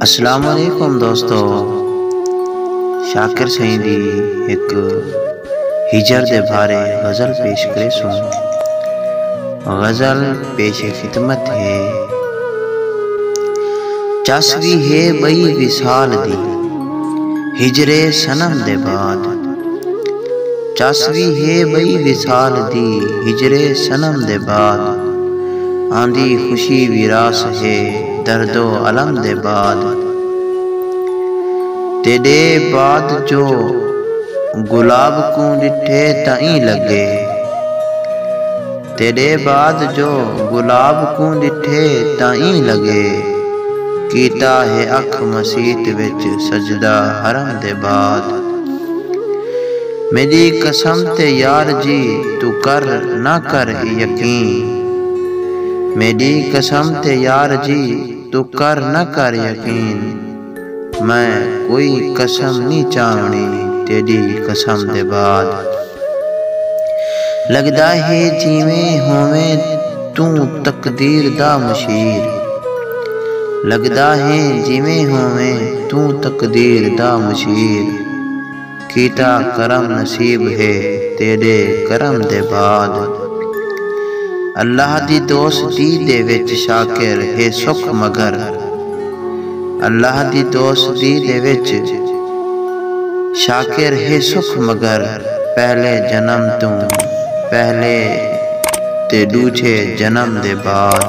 السلام علیکم دوستو شاکر سائیں دی ایک ہجر دے بھارے غزل پیش کرے سوں غزل پیش خدمت ہے چس بھی ہے بئی وصال دی ہجرے سنم دے بعد چس وی ہے ٻئی وصال دی ہجرے صنم دے بعد آندی خوشی وی راس ہے درد و الم دے بعد تیݙے بعد جو گلاب کوں ݙٹھے تاں ایں لڳے۔ تیݙے بعد جو گلاب کوں ݙٹھے تاں ایں لڳے کیتا ہے اکھ مسیت وچ سجدہ حرم دے بعد میݙی قسم تے یار جی توں کر نہ کر یقین میݙی قسم تے یار جی توں کر نہ کر یقین۔ میں کوئی قسم نی چاونڑی تیڈی قسم دے بعد لگدا ہے جیویں ہوویں توں تقدیر دا مشیر لگدا ہے جیویں ہوویں توں تقدیر دا مشیر۔ کیتا کرم نصیب ہے تیڈے کرم دے بعد اللہ دی دوستی دے وچ شاکر ہے سکھ مگر اللہ دی دوستی دے وچ شاکر ہے سکھ مگر پہلے جنم توں پہلے تے ڈوجھے جنم دے بعد۔